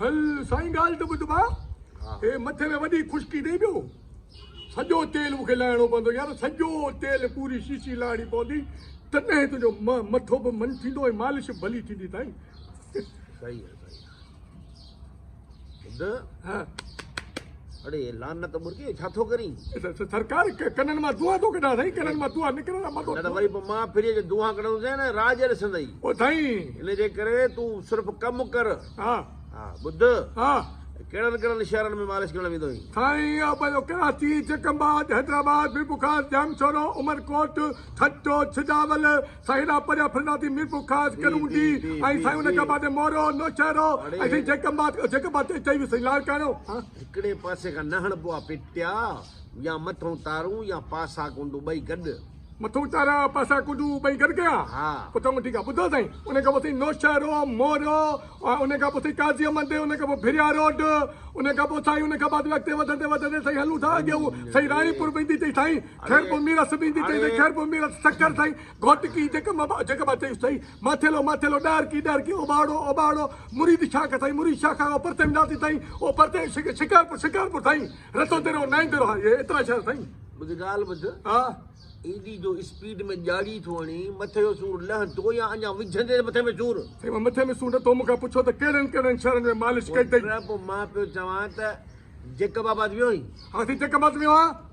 هل سائين ڳالهه ته ٻڌ ڀا هي مٿي ۾ وڏي خشڪي ڏئي پيو سڄو تيل مونکي لاهڻو پوندو يار سڄو تيل پوري شيشي لاهڻي پوندي تڏهن تنهنجو مٿو به من ٿيندو ۽ مالش ڀلي ٿيندي سائين صحيح صحيح ها اڙي لعنت مرغي ڇا ٿو ڪرين. سرڪار ڪنن مان دونهان ٿو ڪڍان سائين ڪنن مان دونهان نڪرڻ لاء مدو. نه ته وري پوء مان ڦري جي دونهان ڪڍندوسين نه راڄ ڏسندئي. او سائين. ان جي ڪري تون صرف ڪم ڪر. ها. ها ٻڌ. ها. ڪهڙن ڪهڙن شهرن ۾ مالش ڪرڻ ويندو آهين. سائين اهو پنهنجو ڪراچي، چڪ آباد، حيدرآباد، ميرپورخاص، ڄامشورو، عمرڪوٽ، ٺٽو، ڇجاول، سائين ڏانهن پڄيا ڦرندا ٿي ميرپور خاص ڪرونڊي ۽ سائين ان کان بعد مورو نوشهرو ۽ سائين جيڪب مات جيڪب مات چئي ويس سائين لال ڪاڻو ها. هڪڙي پاسي کان نه هڻبو آ پٽيا يا مٿئون تارون يا پاسا ڪنڊون ٻئي گڏ. مٿئون تارا پاسا ڪنڊون ٻئي گڏ ڪيا ها. پوء چڱو ٺيڪ آ ٻڌو سائين ان کان پوء سائين نوشهرو مورو ۽ ان کان پوء سائين قاضي احمد ڏي ان کان پوء ڀريا روڊ ان کان پوء سائين ان کان بعد اڳتي وڌندي وڌندي سائين هلون ٿا اڳيئون سائين راڻيپور ويندي چئي سائين خير پو ميرا سڀني جي چئي خير پو ميرا سکر سائين گهوٽڪي جڪ مبا جڪ با چئيس سائين ماٿيلو ماٿيلو ڏهرڪي ڏهرڪي اوٻاڙو اوٻاڙو مريد شاخ سائين مريد شاخ کان او پرتي وينداسي سائين او پرتي شڪارپور شڪارپور سائين رتو ديرو نائين ديرو ها اهي ايترا شهر سائين ٻڌ ڳالهه ٻڌ ها ايڏي جو اسپيڊ ۾ ڄاڙي ٿو اڻي مٿي جو سور لهن ٿو يا اڃا وجهندي مٿي ۾ سور سائين مٿي ۾ سور نه ٿو مون کان پڇو ته ڪهڙن ڪهڙن شهرن ۾ مالش ڪئي اٿئي پو مان پيو چوان ته جڪ بابا ويو آهين ها سائين جڪ بابا ويو آهيان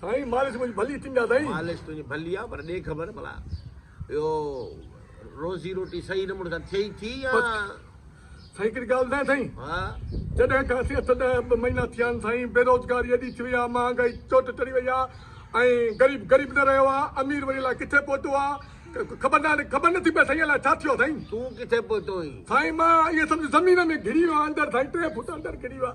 سائين مالش منهنجي ڀلي ٿيندي آ سائين. مالش تنهنجي ڀلي آ پر ڏي خبر ڀلا اهو روزي روٽي صحيح نموني سان ٿئي ٿي يا. سائين هڪڙي ڳالهه ٻڌايان سائين. ها. جڏهن کان اسين اٺ ڏهه ٻه مهينا ٿيا آهن سائين بيروزگاري ايڏي ٿي وئي آ مهانگائي چوٽ چڙهي وئي آ ۽ غريب غريب نه رهيو آ امير وري الائي ڪٿي پهتو آ خبر ناهي خبر نٿي پئي سائين الائي ڇا ٿيو آ سائين. تون ڪٿي پهتو آهين؟ سائين مان ائين سمجهه زمين ۾ گهڙي ويو آ اندر سائين ٽي فوٽ اندر گهڙي ويو آ.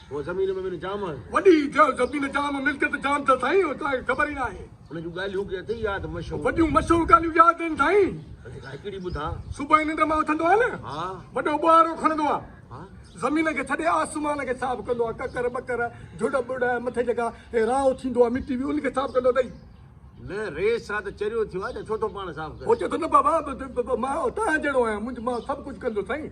هو زمين ۾ من جام آهي. وڏي ٿيو زمين جام ملڪيت جام ته سائين هو توهان کي خبر ئي ناهي. هن جون ڳالهيون ڪي اٿئي ياد مشهور. وڏيون مشهور ڳالهيون ياد آهن سائين. هن کان هڪڙي ٻڌاء. صبح ننڊ مان اٿندو آهي نه. ها. وڏو ٻوهارو کڻندو آهي. ها. زمين کي ڇڏي آسمان کي صاف ڪندو آهي ڪڪر ٻڪر جهڙ ٻڙ ۽ مٿي جيڪا راهو ٿيندو آهي مٽي ان کي صاف ڪندو اٿئي. نه ريس آهي ته چريو ٿيو آهي ڇو ٿو پاڻ صاف ڪري. هو چئي ٿو نه بابا مان توهان جهڙو آهيان مان سڀ ڪجهه ڪندو سائين.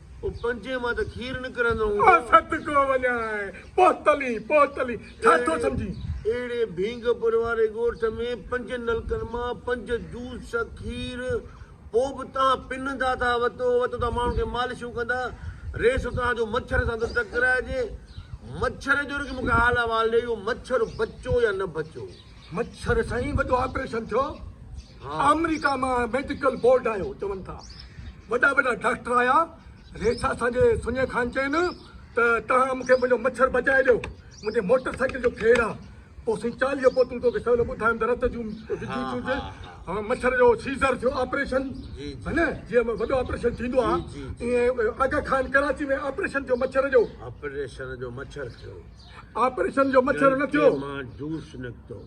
او پنجين مان ته کير نڪرندو هوندو. او صدقو وڃانء، پهتلين، پهتلين، ڇا ٿو سمجهين؟ اهڙي ڀينگپور واري ڳوٺ ۾ پنجن نلڪن مان پنج جوس کير، پوء به توهان پنهندا ٿا، وتو وتو ٿا ماڻهن کي مالشون ڪندا، ريس توهان جو مڇر سان ٿو ٽڪرائجي. مڇر جو رڳ مون کي حال احوال ڏي، اهو مڇر بچو يا نه بچو؟ مڇر سائين وڏو آپريشن ٿيو آمريڪا مان ميڊيڪل بورڊ آيو چون ٿا وڏا وڏا ڊاڪٽر آيا ريشا اسان جي سڃي خان چين ته تهان مونکي منهنجو مڇر بچائي ڏيو منهنجي موٽر سائيڪل جو کيڙ آ پوء سائين چاليهه پوتون توکي سهولت ٻڌايم ته رت جون وجون چون جي هاڻ مڇر جو سيزر ٿيو آپريشن ها نه جيئن وڏو آپريشن ٿيندو آ ايئن اگا خان ڪراچي ۾ آپريشن ٿيو مڇر جو آپريشن جو مڇر ٿيو آپريشن جو مڇر نه ٿيو. ڳڻتي مان جوس نڪتو،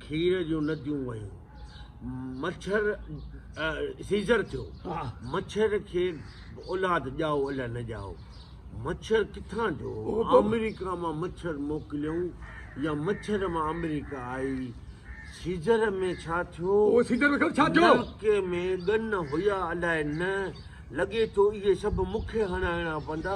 کير جون نديون وهيون، مڇر سيزر ٿيو، مڇر کي اولاد ڄائو الا نه ڄائو، مڇر ڪٿان جو آمريڪا مان مڇر موڪليائون يا مڇر مان آمريڪا آئي، سيزر ۾ ڇا ٿيو، نلڪي ۾ ڳن هيا الا نه، لڳي ٿو اهي سڀ مون کي هڻائڻا پوندا،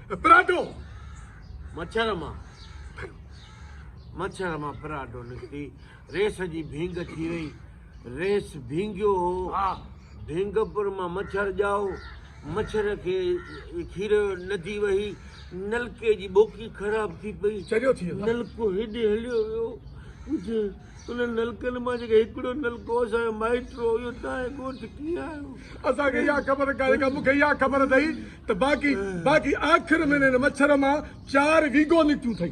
پراڊو مڇر مان مڇر مان پراڊو نڪتي ريس جي ڀينگ ٿي وئي ريس ڀينگيو هو ڀينگپور مان مڇر ڄائو مڇر کي کير ندي وهي نلڪي جي ٻوڪي خراب ٿي پئي نلڪو هيڏي هليو ويو انهن نلڪن مان جيڪي هڪڙو نلڪو اسان جو مائٽرو هو اهو تنهنجي ڳوٺ ڪيئن آيو؟ اسان کي اها خبر ڪانهي ڪا، مون کي اها خبر اٿئي ته باقي باقي آخر ۾ انهن مڇر مان چار ويڳو نڪتيون اٿئي.